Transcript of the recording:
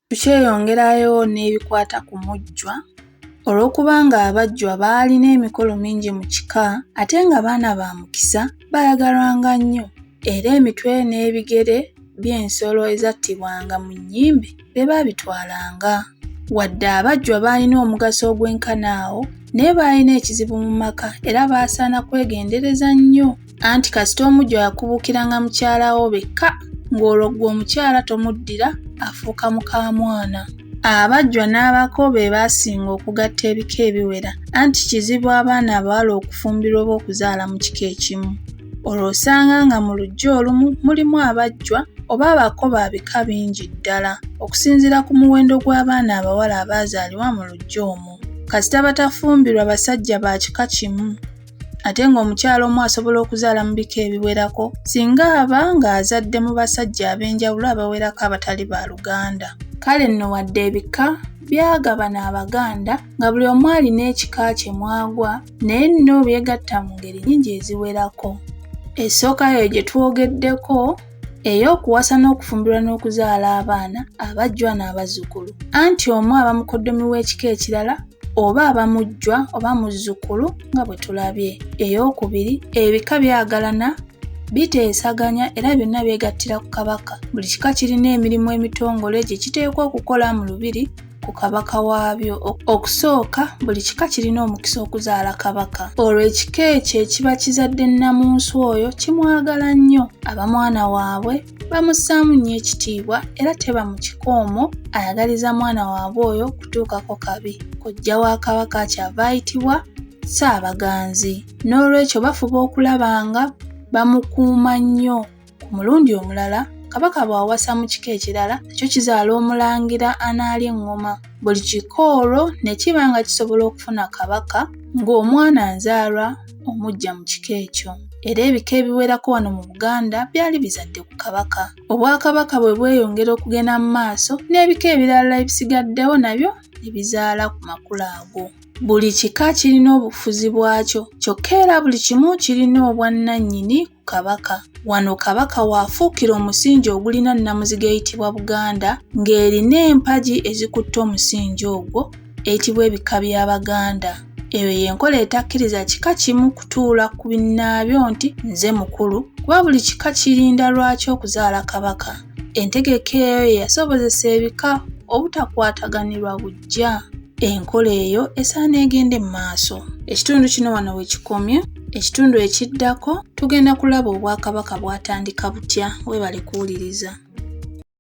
Tukyeyongerayo n'ebikwata ku mujjwa. Olw'okuba ng'abajjwa baalina emikolo mingi mu kika ate nga baana ba mukisa, baayagalwanga nnyo era emitwe n'ebigere by'ensolo ezattibwanga mu nnyimbe be baabitwalanga. Wadde abajjwa baalina omugaso ogwenkana awo, naye baalina ekizibu mu maka era baasaana kwegendereza nnyo anti kasita omujja yakubuukiranga mukyala wo bekka ng'olwo ggwe omukyala tomuddira afuuka mukamwana abajjwa n'abako be baasinga okugatta ebika ebiwera anti kizibu abaana abawala okufumbirwa oba okuzaala mu kika ekimu olwo osanga nga mu lujja olumu mulimu abajjwa oba abako ba bika bingi ddala okusinziira ku muwendo gw'abaana abawala abaazaalibwa mu lujja omwo kasita batafumbirwa basajja ba kika kimu ate ng'omukyala omu asobola okuzaala mu bika ebiwerako singa aba ng'azadde mu basajja ab'enjawulo abawerako abatali ba luganda kale nno wadde ebika byagabana abaganda nga buli omu alina ekika kye mwagwa naye nno byegatta mu ngeri nyingi eziwerako esooka yo gye twogeddeko ey'okuwasa n'okufumbirwa n'okuzaala abaana abajjwa n'abazzukulu anti omu aba mukoddomi w'ekika ekirala oba aba mujjwa oba muzzukulu nga bwe tulabye ey'okubiri ebika byagalana biteesaganya era byonna byegattira ku kabaka buli kika kirina emirimu emitongole gye kiteekwa okukola mu lubiri ku kabaka waabyo. Okusooka, buli kika kirina omukisa okuzaala kabaka. Olwo ekika ekyo ekiba kizadde nnamunsi oyo kimwagala nnyo, aba mwana waabwe, bamussaamu nnyo ekitiibwa era teba mu kika omwo ayagaliza mwana waabwe oyo kutuukako kabi. Kojja wa kabaka akyava ayitibwa Ssaabaganzi. N'olwekyo bafuba okulaba nga bamukuuma nnyo. Ku mulundi omulala, Kabaka bw'awasa mu kika ekirala, nakyo kizaala omulangira anaalya eŋŋoma. Buli kika olwo ne kiba nga kisobola okufuna Kabaka ng'omwana nzaalwa omuggya mu kika ekyo. Era ebika ebiwerako wano mu Buganda byali bizadde ku Kabaka. Obwakabaka bwe bweyongera okugenda mu maaso, n'ebika ebirala ebisigaddewo nabyo ne bizaala ku makula ago. Buli kika kirina obufuzi bwakyo, kyokka era buli kimu kirina obwannannyini. Kabaka. Wano Kabaka w'afuukira omusingi ogulina nnamuziga eyitibwa Buganda ng'erina empagi ezikutte omusingi ogwo eyitibwa ebika by'Abaganda. Eyo y'enkola etakkiriza kika kimu kutuula ku binnaabyo nti nze mukulu kuba buli kika kirinda lwaki okuzaala Kabaka. Entegeka eyo ye yasobozesa ebika obutakwataganirwa buggya. kujja enkola eyo esaana egende mu maaso ekitundu kino wano we kikomye ekitundu ekiddako tugenda kulaba obwakabaka bwatandika butya webale kuwuliriza